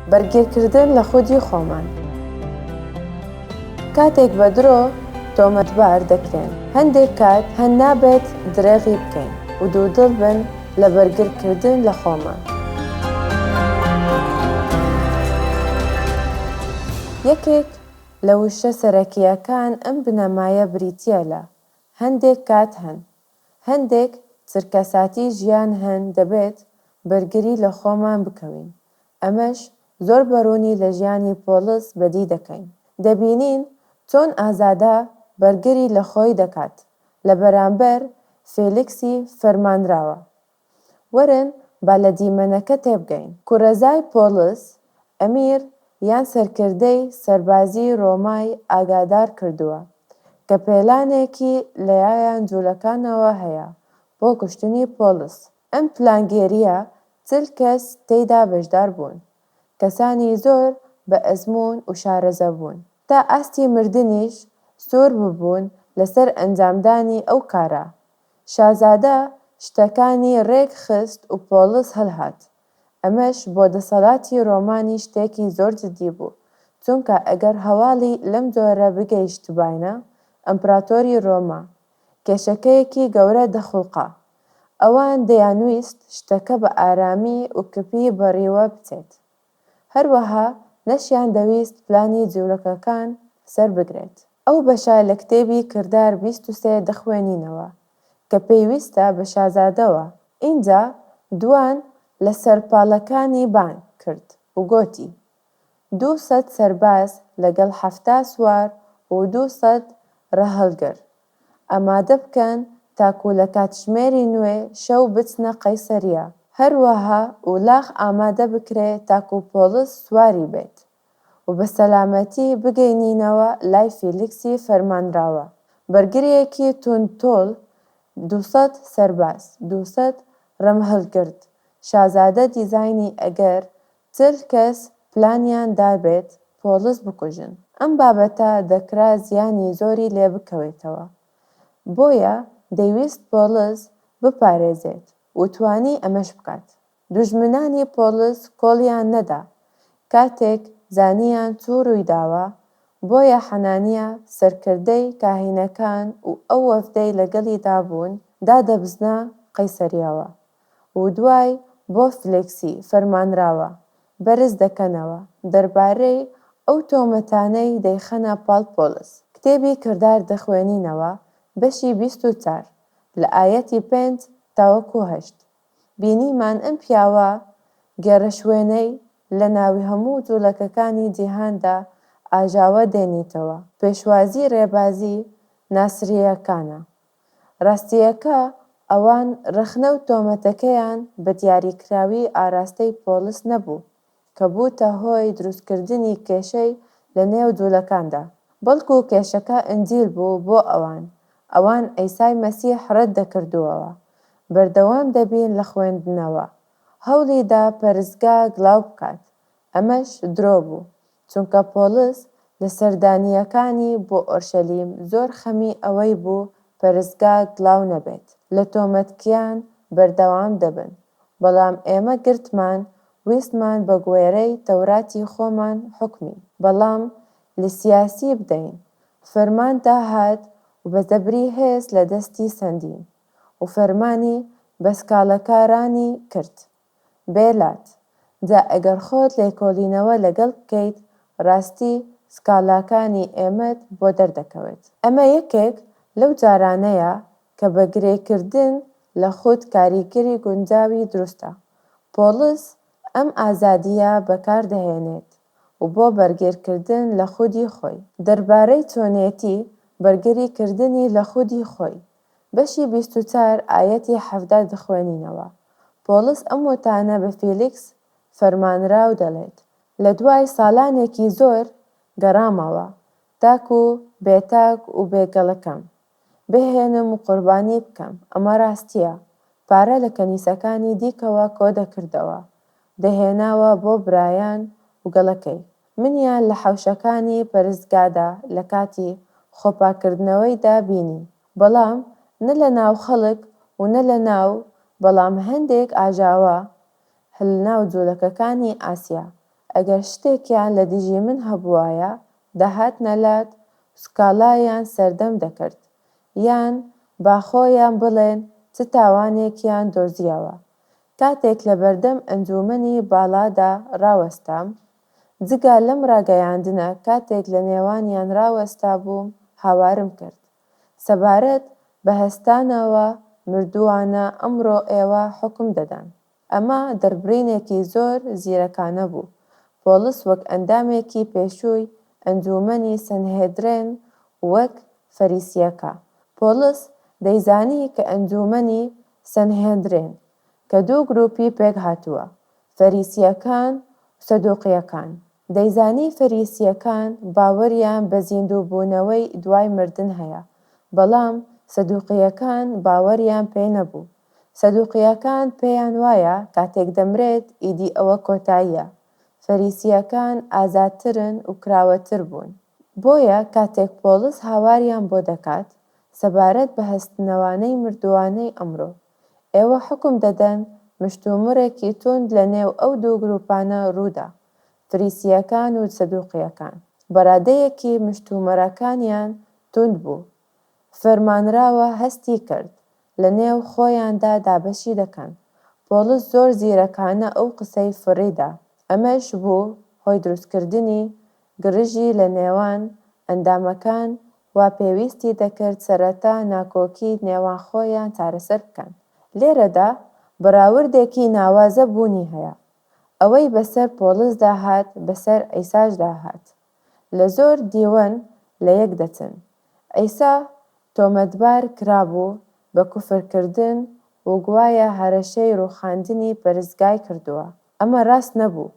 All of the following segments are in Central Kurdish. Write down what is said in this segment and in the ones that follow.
بەرگیرکردن لە خودی خۆمان کاتێک بە درۆ تۆمەتبار دەکرێن هەندێک کات هەن نابێت درێغی بکەین و دوودڵ بن لە بەرگرکردن لە خۆمان یەکێک لە وشە سەرەکییەکان ئەم بنەمایە بریتییە لە هەندێک کات هەن هەندێک چرکەساتی ژیان هەن دەبێت بەرگری لە خۆمان بکەوین، ئەمەش زۆر بەروونی لە ژیانی پۆڵس بەدی دەکەین، دەبینین چۆن ئازادە بەرگری لە خۆی دەکات لە بەرامبەر فێلیکسی فەرمانراوە، وەرن با لە دیمەنەکە تێبگەین. کورەزای پۆڵس، ئەمیر یان سەرکردەی سەربازیی ڕۆمای ئاگادار کردووە کە پێلانێکی لەایان جوولەکانەوە هەیە بۆ کوشتنی پۆڵس. ئەم پلانگێرییە چل کەس تێیدا بەشدار بوون، کەسانی زۆر بە ئەزموون و شارەزە بوون، تا ئاستی مردنیش سوور ببوون لەسەر ئەنجامدانی ئەو کارە، شازادە شتەکانی رێک خست و پۆڵس هەلهات. ئەمەش بۆ دەسەڵاتی رۆمانی شتێکی زۆر جدی بوو، چونکە ئەگەر هەواڵی لەم جۆرە بگەیشتباینە ئەمپراتۆری رۆما، کێشەکەیەکی گەورە دەخولقا. ئەوان دەیانویست شتەکە بە ئارامی و کپی بەڕیوە بچێت. هەروەها نەشیان دەویست پلانی جورەکەکان سەر بگرێت. ئەو بەشە لە کتێبی کردار بیست و سێ دەخوێنینەوە کە پێویستە بە شازادەوە. ئینجا دووان لە سەرپاڵەکانی بانگ کرد و گۆتی، دوو سەد سەرباز لەگەڵ حەفتا سوار و دوو سەد ڕەهەڵگر ئامادە بکەن تاکو لە کاتژمێری نوێ شەو بچنە قەیسەریە، هەروەها ئولاغ ئامادە بکرێ تاکو پۆڵس سواری بێت و بە سەلامەتی بگەینینەوە لای فیلیکسی فەرمانراوە، بەرگریەکی توند تۆڵ دوو سەد سەرباز دوو سەد رمهلگرد شازادە دیزاینی ئەگەر چل کەس پلانیان دابێت پۆڵس بکوژن، ئەم بابەتە دەکرا زیانی زۆری لێبکەوێتەوە، بۆیە دەیویست پۆڵس بپارێزێت و توانی ئەمەش بکات، دوژمنانی پۆڵس کۆڵیان نەدا کاتێک زانیان چ روویداوە، بۆیە حەنانیا سەرکردەی کاهینەکان و ئەو وەفدەی لەگەڵیدا بوون دادەبزنا قەیسەریاوە، و دوای بۆفت لێکسی فەرمانراوە بەرز دەکەنەوە دەربارەی ئەو تۆمەتانەی دەیخەنە پاڵ پۆڵس. کتێبی کردار دەخوێنینەوە بەشی بیست و چار لە ئایەتی پێنج تاوەکو هەشت بینیمان ئەم پیاوە گێرەشوێنەی لە ناوی هەموو جوڵەکەکانی جیهاندا ئاژاوە دێنیتەوە پێشوازی رێبازی ناسرییەکانە ڕاستییەکە، ئەوان ڕەخنە و تۆمەتەکەیان بە دیاریکراوی ئاراستەی پۆڵس نەبوو، کە بووتە هۆی دروستکردنی کێشەی لە نێو جوولەکاندا، بەڵکو کێشەکە ئنجیل بوو بۆ ئەوان، ئەوان عیسای مەسیح ڕەت دەکردووەوە. بەردەوام دەبین لە خوێندنەوە. هەوڵی دا پەرستگا گڵاو بکات، ئەمەش درۆ بوو. چونکە پۆڵس لە سەردانییەکانی بۆ ئۆرشەلیم زۆر خەمی ئەوەی بوو پەرستگا گڵاو نەبێت لە تۆمەتکیان بەردەوام دەبن، بەڵام ئێمە گرتمان ویستمان بە گوێرەی تەوراتی خۆمان حوکمی بەڵام لە سیاسی بدەین، فەرمان دا هات و بە زەبری هێز لە دەستی سەندین و فەرمانی بە سکاڵەکارانی کرد. بێ لات جا ئەگەر خۆت لێکۆلینەوە لەگەل بکەیت راستی سکالاکانی ئێمەت بۆ دەردەکەوێت ئەمە یەکێک لەو جارانەیە کە بە گرێ کردن لە خود کاریگەری گونجاوی دروستە پۆڵس ئەم ئازادیە بەکار دەهێنێت و بۆ بەرگێر کردن لە خودی خۆی دەربارەی چۆنێتی بەرگری کردنی لە خودی خۆی بەشی بیست و چار ئایەتی حەڤدە دخوێنینەوە پۆڵس ئەم وتانە بە فیلیکس فەرمانراو دەڵێت لە دوای سالانێکی زۆر گەڕامەوە تاکو بێ تاک و بێ گەڵەکەم بهێنم و قوربانی بکەم ئەمە راستیە پارە لە کەنیسەکانی دیکەوە کۆدەکردەوە دەهێناوە بۆ برایان و گەڵەکەی منیان لە حەوشەکانی پەرستگادا لە کاتی خۆپاککردنەوەیدا بینی، بەڵام نە لە ناو خەڵک و نە لە ناو، بەڵام هەندێک ئاژاوە لە ناو جوولەکەکانی ئاسیا، ئەگەر شتێکیان لە دژی من هەبووایە، دەهاتنە لات و سکاڵایان سەردەم دەکرد، یان با خۆیان بڵێن چ تاوانێکیان دۆزییەوە، کاتێک لە بەردەم ئەنجوومەنی باڵادا ڕاوەستام، جگە لەم ڕاگەیاندنە کاتێک لە نێوانیان ڕاوەستابووم هاوارم کرد سەبارەت بە هەستانەوە مردووانە ئەمڕۆ ئێوە حوکم دەدەن. ئەمە دەربڕینێکی زۆر زیرەکانە بوو. پۆڵس وەک ئەندامێکی پێشووی ئەنجوومەنی سەنهێدرێن وەک فەریسییەکە پۆڵس دەیزانی کە ئەنجوومەنی سەنهێندرێن کە دوو گرووپی پێک هاتووە، فەریسییەکان و سەدووقییەکان. دەیزانی فەریسییەکان باوەریان بە زیندووبوونەوەی دوای مردن هەیە، بەڵام سەدووقییەکان باوەریان پێ نەبوو. سەدووقییەکان پێیان وایە کاتێک دەمرێت ئیدی ئەوە کۆتاییە. فەریسییەکان ئازادترن و کراوەتر بوون. بۆیە کاتێک پۆڵس هاواریان بۆ دەکات سەبارەت بە هەستنەوانەی مردووانەی ئەمرۆ، ئێوە حوکم دەدەن مشتومڕێکی توند لە نێو ئەو دوو گروپانە روودا، فریسییەکان و سەدوقییەکان، بەرادەیەکی مشتومڕەکانیان توند بوو، فەرمانراوە هەستی کرد لە نێو خۆیاندا دابەشی دەکەن، پۆڵس زۆر زیرەکانە ئەو قسەی فڕیدا، ئەمەش بوو هۆی دروستکردنی گرژی لە نێوان ئەندامەکان وا پێویستی دەکرد سەرەتا ناکۆکی نێوان خۆیان چارەسەر بکەن. لێرەدا بەراوردێکی ناوازە بوونی هەیە، ئەوەی بەسەر پۆڵسدا هات بەسەر عیساشدا هات. لە زۆر دیوەن لە یەک دەچن. عیسا تۆمەتبار کرابوو بە کوفرکردن و گوایە هەرەشەی ڕووخاندنی پەرستگای کردووە. ئەمە راست نەبوو،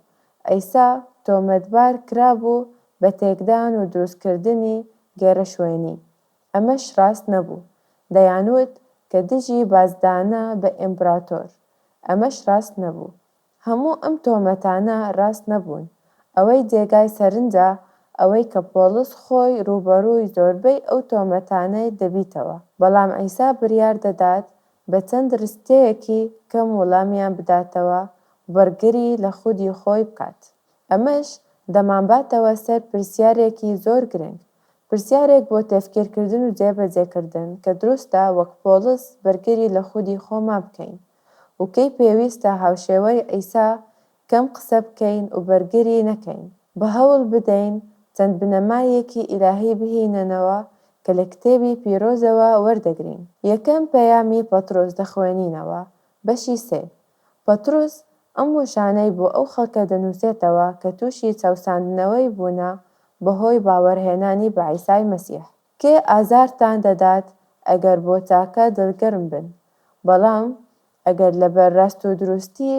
عیسا تۆمەتبار کرابوو بە تێکدان و دروستکردنی گێرەشوێنی، ئەمەش راست نەبوو، دەیانوت کە دژی بازدانە بە ئیمپراتۆر، ئەمەش راست نەبوو. هەموو ئەم تۆمەتانە راست نەبوون، ئەوەی جێگای سەرنجە ئەوەی کە پۆڵس خۆی رووبەڕووی زۆربەی ئەو تۆمەتانەی دەبیتەوە، بەڵام عیسا بریار دەدات بە چەند رستەیەکی کەم وڵامیان بداتەوە و بەرگری لە خودی خۆی بکات. ئەمەش دەمانباتەوە سەر پرسیارێکی زۆر گرنگ، پرسیارێک بۆ تێفکیرکردن و جێبەجێکردن کە دروستە وەک پۆڵس بەرگری لە خودی خۆمان بکەین و کەی پێویستە هاوشێوەی عیسا کەم قسە بکەین و بەرگری نەکەین، بە هەوڵ بدەین چەند بنەمایەکی ئیلاهی بهینەنەوە کە لە کتێبی پیرۆزەوە وەردەگرین. یەکەم پەیامی پەترۆس دەخوێنینەوە، بەشی سێ. پەترۆس ئەم وشانەی بۆ ئەو خەڵکە دەنووسێتەوە کە تووشی چەوساندنەوەی بوونە بەهۆی باوەرهێنانی بە عیسای مەسیح. کێ ئازارتان دەدات ئەگەر بۆ تاکە دڵگەرم بن بەڵام ئەگەر لەبەر راست و دروستی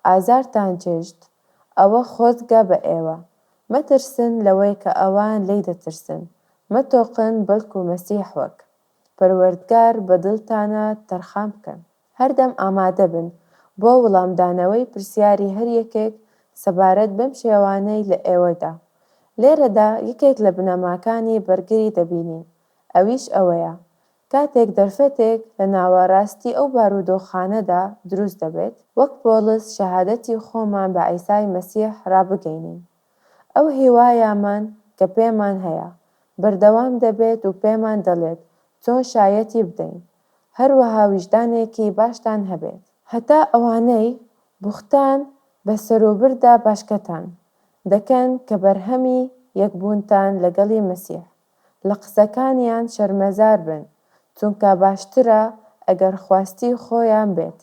ئازارتان چێژت ئەوە خۆزگە بە ئێوە. مەترسن لەوەی کە ئەوان لێی دەترسن مەتۆقن بەلکو مەسیح وەک. پەروەردگار بە دڵتانا تەرخان بکەن. هەردەم ئامادە بن بۆ وڵامدانەوەی پرسیاری هەر یەکێک سەبارەت بەم شێوانەی لە ئێوەدا. لێرەدا یەکێک لە بنەماکانی بەرگری دەبینین، ئەویش ئەوەیە، کاتێک دەرفەتێک لە ناوەراستی ئەو بارودۆخانەدا دروست دەبێت، وەک پۆڵس شەهادەتی خۆمان بە عیسای مەسیح ڕابگەینین. ئەو هیوایەمان کە پێمان هەیە، بەردەوام دەبێت و پێمان دەڵێت چۆن شایەتی بدەین، هەروەها ویژدانێکی باشتان هەبێت. هەتا ئەوانەی بوختان بە سەروبردا باشکەتان دەکەن کە بەرهەمی یەکبوونتان لەگەڵی مەسیح، لە قسەکانیان شەرمەزار بن، چونکا باشترە ئەگەر خواستی خۆیان بێت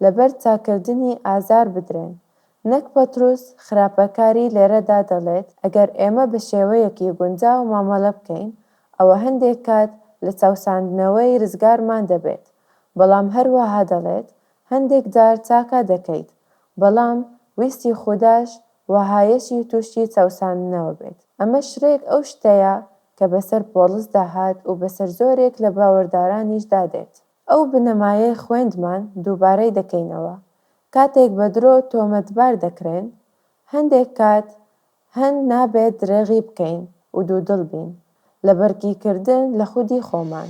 لەبەر چاککردنی ئازار بدرێن. نەک پەتروس خراپەکاری لێرەدا دەڵێت ئەگەر ئێمە بە شێوەیەکی گونجاو مامەڵە بکەین، ئەوە هەندێک کات لە چاوساندنەوەی رزگارمان دەبێت، بەڵام هەروەها دەڵێت هەندێک جار چاکە دەکەیت، بەڵام ویستی خوداش وەهایەشی تووشی چاوساندنەوە بێت. ئەمە شرێک ئەو شتەیە کە بەسەر پۆڵسدا هات و بەسەر زۆرێک لە باوەردارانیشدا دێت. ئەو بنەمایەی خوێندمان دووبارەی دەکەینەوە، کاتێک بە درۆ تۆمەتبار دەکرێن، هەندێک کات هەند نابێت درێغی بکەین و دوودڵ بین لە بەرگیکردن لە خودی خۆمان.